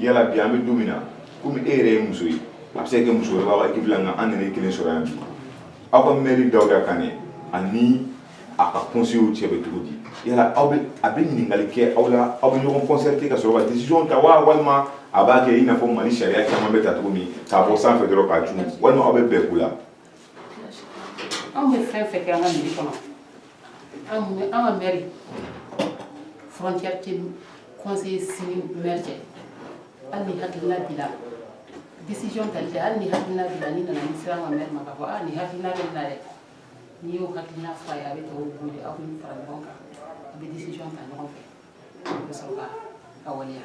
yala bi an bɛ don min na komi e yɛrɛ ye muso ye a bɛ se ka kɛ muso wɛrɛ b'a ka ekipi la nka an nana e kelen sɔrɔ yan bi aw ka mɛri dawuda kane ani a ka kɔnseyew cɛ bɛ cogo di yala aw bɛ a bɛ ɲininkali kɛ aw la aw bɛ ɲɔgɔn kɔnsɛrite ka sɔrɔ ka décision ta wa walima a b'a kɛ i n'a fɔ mali sariya caman bɛ ta cogo min k'a bɔ sanfɛ dɔrɔn k'a cun walima aw bɛ bɛn ko la anw bɛ fɛn fɛn kɛ an ka mɛri kɔnɔ an ka mɛri frontière tɛ conseillers ni mɛri cɛ hali ni hakilina b'i la décision tali tɛ hali ni hakilina b'i la n'i nana n'i sera an ka mɛri ma k'a fɔ aa nin hakilina bɛ n na dɛ n'i y'o hakilina fɔ a ye a bɛ tɔw wele aw bɛ fara ɲɔgɔn kan a bɛ décision ta ɲɔgɔn fɛ a bɛ sɔrɔ ka a waleya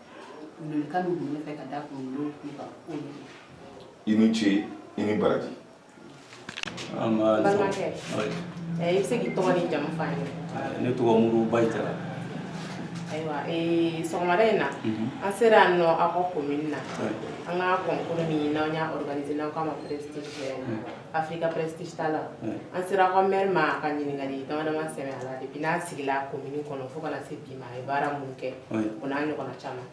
Welewelekan min bɛ ne fɛ ka da kunkolo kun kan o ye i ni ce i ni baraji balimakɛ ɛ i bɛ se k'i tɔgɔ n'i jamu f'an ye ne tɔgɔ muru bayi jara ayiwa ee sɔgɔmada in na an sera yan nɔ aw ka komini na an ka kɔnkuru min n'an y'a organiser n'an k'a ma prestige Africa Prestige ta la an sera aw ka maire ma ka ɲininkali dama dama sɛmɛ a la depuis n'a sigila commune kɔnɔ fo kana se bi ma a ye baara mun kɛ o n'a ɲɔgɔnna caman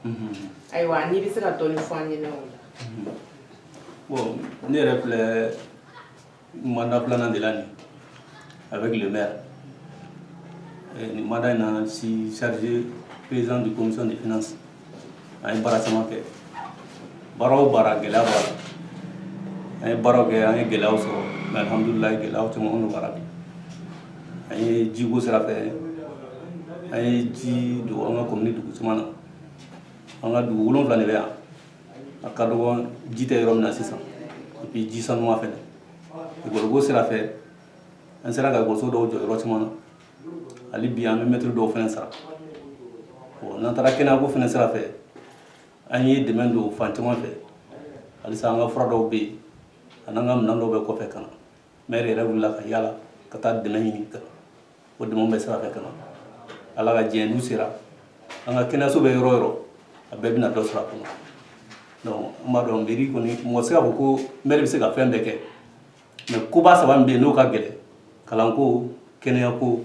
ayiwa n'i bɛ se ka dɔɔni fɔ an ɲɛna o la bon ne yɛrɛ filɛ mandat filanan de la nin avec le maire nin mandat in na suis chargé président du commission des finances an ye baara caman kɛ baara o baara gɛlɛya b'a la an ye baaraw kɛ an ye gɛlɛyaw sɔrɔ mɛ alhamdulilayi gɛlɛyaw caman minnu bara bi an ye jiko sira fɛ an ye ji don an ka komini dugu caman na an ka dugu wolonfila de bɛ yan a ka dɔgɔ ji tɛ yɔrɔ min na sisan epi ji sanuman fɛnɛ ekɔliko sira fɛ an sera ka ekɔliso dɔw jɔ yɔrɔ caman na hali bi an bɛ mɛtiri dɔw fɛnɛ sara n'an taara kɛnɛyako fɛnɛ sira fɛ an ye dɛmɛ don fan caman fɛ halisa an ka fura dɔw bɛ yen an'an ka minɛn dɔw bɛ kɔfɛ ka na mɛri yɛrɛ wulila ka yala ka taa dɛmɛ ɲini ka o dɛmɛ bɛ sira fɛ ka na ala ka diɲɛ n'u sera an ka kɛnɛyaso bɛ yɔrɔ yɔrɔ a bɛɛ bɛna dɔ sɔrɔ a kɔnɔ donc n b'a dɔn mɛri kɔni mɔgɔ tɛ se k'a fɔ ko mɛri bɛ se ka fɛn bɛɛ kɛ mɛ koba saba min bɛ yen n'o ka gɛlɛn kalanko kɛnɛyako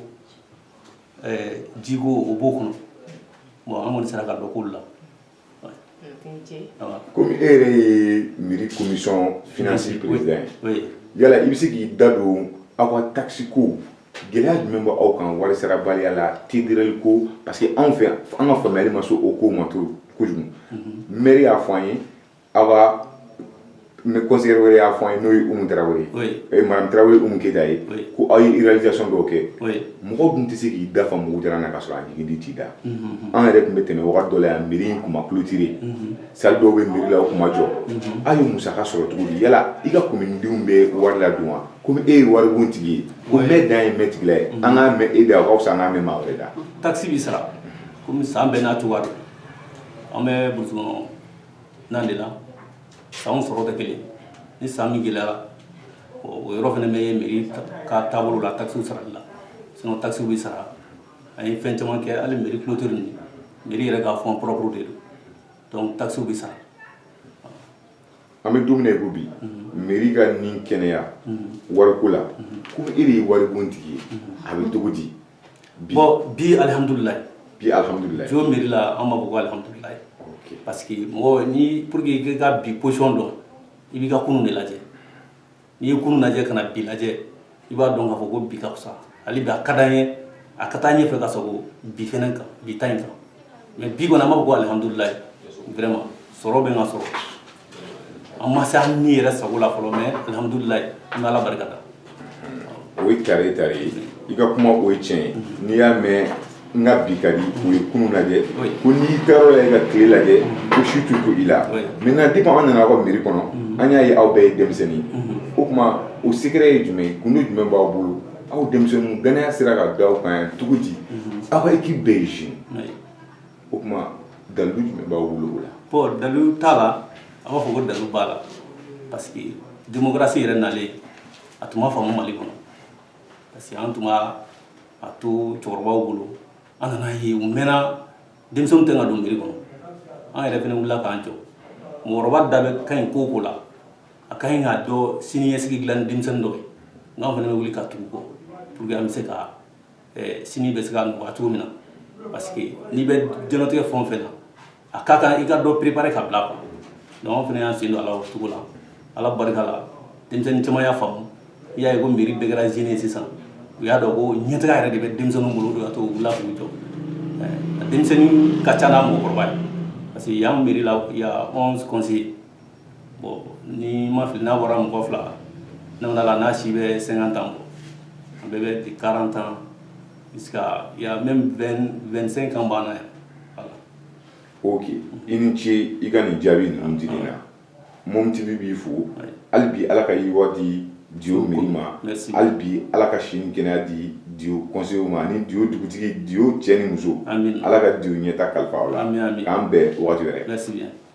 jiko o b'o kɔnɔ bon an kɔni sera ka dɔ k'olu la komi e yɛrɛ ye mɛri komisɔn finansi perezidan ye yala i bɛ se k'i da don aw ka takisiko gɛlɛya jumɛn bɛ aw kan wari sarabaliya la TDRL ko parce que anw fɛ an ka faamuyali ma se o ko ma kojugu mɛri y'a fɔ an ye aw ka conseiller wɛrɛ y'a fɔ an ye n'o ye Umu Tarawele ye, oui, ee madame Tarawele Umu Keyita ye, oui, ko aw ye réalisation dɔw kɛ, oui, mɔgɔ dun tɛ se k'i da fa mugu jalan na ka sɔrɔ a ɲigin ji t'i da, unhun, an yɛrɛ tun bɛ tɛmɛ wagati dɔ la yan mairie in tun ma clôturer, unhun, salle dɔw bɛ mairie la o tun ma jɔ, unhun, aw ye musaka sɔrɔ cogo di yala i ka commune denw bɛ wari ladon wa komi e ye waribon tigi ye ko mɛn dan ye mɛn tigila ye an k'a mɛn e da o ka fisa an k'a mɛn maa wɛrɛ da, taxe bɛ sara komi san bɛɛ n'a cogoya don an bɛ burusi kɔnɔ na de la sanw sɔrɔ tɛ kelen ni san min gɛlɛyara o yɔrɔ fana bɛ mairie ka taabolo la takisiw sarali la sinon takisiw bɛ sara an ye fɛn caman kɛ hali mairie clôture nin mairie yɛrɛ ka fonds propre de don donc takisiw bɛ sara an bɛ don min na i ko bi mairie ka ni kɛnɛya wariko la komi e de ye waribon tigi ye a bɛ cogo di bon bi alihamdulilayi bi alihamdulilayi Dio mairie la an b'a fɔ ko alihamdulilayi parce que mɔgɔ ni pour que i ka bi position dɔn i b'i ka kunun de lajɛ n'i ye kunun lajɛ ka na bi lajɛ i b'a dɔn k'a fɔ ko bi ka fisa hali bi a ka d'an ye a ka taa ɲɛfɛ ka sago bi fɛnɛ kan bi ta in kan mais bi kɔni an b'a fɔ ko alihamdulilayi vraiment sɔrɔ bɛ ka sɔrɔ an ma se an ni yɛrɛ sago la fɔlɔ mais alhamdulilayi an bɛ ala barika da o ye tare ye tare ye i ka kuma o ye tiɲɛ ye n'i y'a mɛn n ka bi ka di o ye kunun lajɛ ko n'i taara la i ka tile lajɛ ko su tɛ ko i la maintenant depuis an nana aw ka mairie kɔnɔ an y'a ye aw bɛɛ ye denmisɛnnin o tuma o secret ye jumɛn ye gundo jumɛn b'aw bolo aw denmisɛnninw danaya sera ka da aw kan yan cogo di aw ka équipe bɛɛ ye jeune o tuma dalilu jumɛn b'aw bolo o la bon dalilu t'a la an b'a fɔ ko dalilu b'a la parce que démocratie yɛrɛ nalen a tun ma faamu Mali kɔnɔ parce que an tun b'a to cɛkɔrɔbaw bolo an nana ye u mɛnna denmisɛnw tɛ ka don mairie kɔnɔ an yɛrɛ fana wulila k'an jɔ mɔgɔkɔrɔba da bɛ ka ɲi ko o ko la a ka ɲi k'a dɔn sini ɲɛsigi dilan ni denmisɛnnin dɔ ye nk'an fana bɛ wuli ka tugu kɔ pour que an bɛ se ka sini bɛ se ka nɔgɔya cogo min na parce que n'i bɛ diɲɛlatigɛ fɛn o fɛn na a ka kan i ka dɔ préparer ka bila quoi donc an fana y'an sen don a la o cogo la ala barika la denmisɛnnin caman y'a faamu i y'a ye ko mairie bɛɛ kɛra jeune ye sisan u y'a dɔn ko ɲɛtaga yɛrɛ de bɛ denmisɛnninw bolo o de y'a to u wulila k'u jɔ denmisɛnnin ka ca n'a mɔgɔkɔrɔba ye parce que yan mairie la il y a 11 conseillers bon ni n ma fili n'a bɔra mɔgɔ fila naani na n'a si bɛ 50 ans bɔ a bɛɛ bɛ de 40 ans jusqu'à il y a même 25 ans b'an na yan ok i ni ce i ka nin jaabi ninnu dili na Mom TV b'i fo hali bi ala ka yiriwa di Dio mairie ma hali bi ala ka si ni kɛnɛya di Dio conseiller ma ani Dio dugutigi Dio cɛ ni muso ala ka Dio ɲɛtaa kalifa aw la k'an bɛn waati wɛrɛ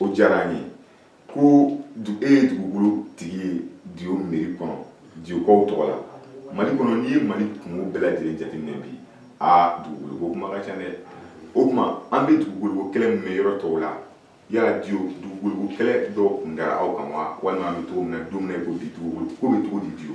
o diyara an ye ko e ye dugukolo tigi ye diyo mɛri kɔnɔ diyokaw tɔgɔ la mali kɔnɔ n'i ye mali kungo bɛɛ lajɛlen jateminɛ bi aa dugukolo ko kuma ka ca dɛ o tuma an bɛ dugukolo ko kɛlɛ min mɛn yɔrɔ tɔw la yala diyo dugukolo ko kɛlɛ dɔw kun kɛra aw kan wa walima an bɛ cogo min na don min na i ko bi dugukolo ko bɛ cogo di diyo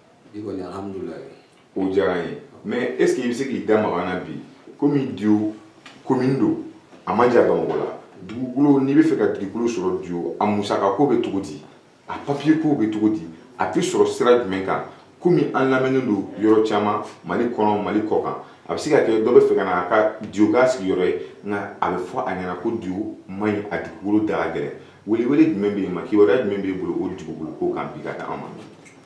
bi kɔni alhamdulilayi o diyara an ye mais est ce que i bɛ se k'i da maga an na bi komi diyo komini don a man jan bamakɔ la dugukolo n'i bɛ fɛ ka dugukolo sɔrɔ diyo a musaka ko bɛ cogo di a papiye ko bɛ cogo di a bɛ sɔrɔ sira jumɛn kan komi an lamɛnnen don yɔrɔ caman mali kɔnɔ mali kɔ kan a bɛ se ka kɛ dɔ bɛ fɛ ka na a ka diyo k'a sigiyɔrɔ ye nka a bɛ fɔ a ɲɛna ko diyo man ɲi a dugukolo da ka gɛlɛn welewele jumɛn bɛ yen ma kibaruya jumɛn b'e bolo o dugukolo ko kan bi ka di an ma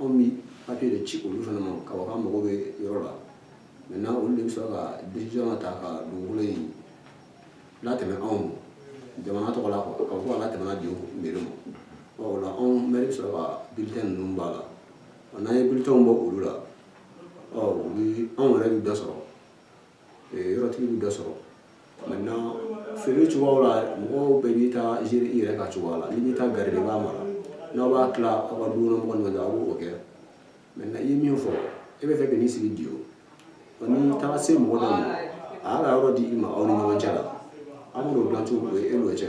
anw bɛ papiye de ci olu fana ma ka fɔ k'an mago bɛ yɔrɔ la maintenant olu de bɛ sɔrɔ ka décision ta ka dugukolo in latɛmɛ anw ma jamana tɔgɔ la quoi ka fɔ k'a latɛmɛna diyo mɛri ma ɔ o la anw mɛri bɛ sɔrɔ ka bilitɛn ninnu b'a la ɔ n'an ye bilitɛnw bɔ olu la ɔ u bɛ anw yɛrɛ bɛ dɔ sɔrɔ yɔrɔtigi bɛ dɔ sɔrɔ maintenant feere cogoyaw la mɔgɔw bɛɛ b'i ta gérer i yɛrɛ ka cogoya la n'i b'i ta garder i b'a mara n'aw b'a tila aw ka dukɔnɔmɔgɔw ni ɲɔgɔn cɛ aw b'o kɛ maintenant i ye min fɔ e bɛ fɛ ka n'i sigi diyo n'i taara se mɔgɔ dɔ ma a y'a ka yɔrɔ di i ma aw ni ɲɔgɔn cɛ la aw b'o dilan cogo o ye e n'o cɛ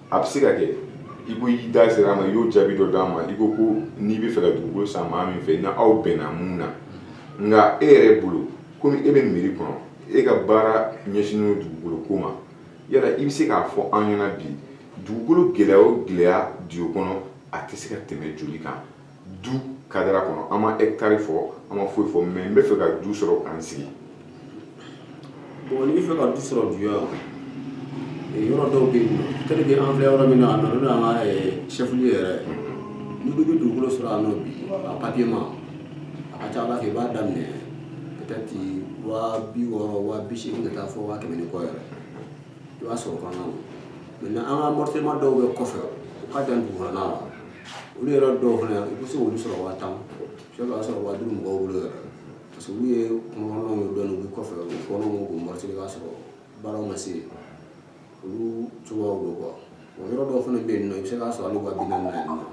a bɛ se ka kɛ i ko y'i da sera a ma i y'o jaabi dɔ d'a ma i ko ko n'i bɛ fɛ ka dugukolo san maa min fɛ n'aw bɛnna mun na nka e yɛrɛ bolo komi e bɛ mɛri kɔnɔ e ka baara ɲɛsinnen dugukolo ko ma yala i bɛ se k'a fɔ an ɲɛna bi dugukolo gɛlɛya o gɛlɛya diyo kɔnɔ a tɛ se ka tɛmɛ joli kan du cadre kɔnɔ an ma hectare fɔ an ma foyi fɔ mais n bɛ fɛ ka du sɔrɔ ka n sigi bon n'i bɛ fɛ ka du sɔrɔ diyo yan yɔrɔ dɔw bɛ yen tel que an filɛ yɔrɔ min na a nana n'an ka chef lieu yɛrɛ n'i ko i bɛ dugukolo sɔrɔ yan nɔ bi a papiyema a ka ca a la fɛn i b'a daminɛ peut-être waa bi wɔɔrɔ waa bi seegin ka taa fɔ waa kɛmɛ ni kɔ yɛrɛ i b'a sɔrɔ fana maintenant an ka morcellement dɔw bɛ kɔfɛ u ka jan dugukɔnɔna na olu yɛrɛ dɔw fana i bɛ se k'olu sɔrɔ waa tan i b'a sɔrɔ waa duuru mɔgɔw bolo yɛrɛ parce que olu ye kungokɔnɔnaw ye dɔɔni u bɛ kɔfɛ u bɛ fɔɔnɔw k'u mɔrɔti i b'a sɔrɔ baaraw ma se yen olu cogoyaw don quoi wa yɔrɔ dɔw fana bɛ yen nɔ i bɛ se k'a sɔrɔ hali waa bi naani na yen nɔ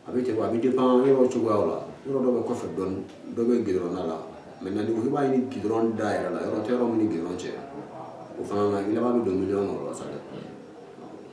a bɛ ten a bɛ dépend yɔrɔ cogoyaw la yɔrɔ dɔ bɛ kɔfɛ dɔɔni dɔ bɛ gidɔrɔnda la maintenant n'i ko i b'a ɲini gidɔrɔn da yɛrɛ la yɔrɔ tɛ yɔrɔ min ni gidɔrɔn cɛ o fana na i laban bɛ don miliyɔn kɔnɔ la sa dɛ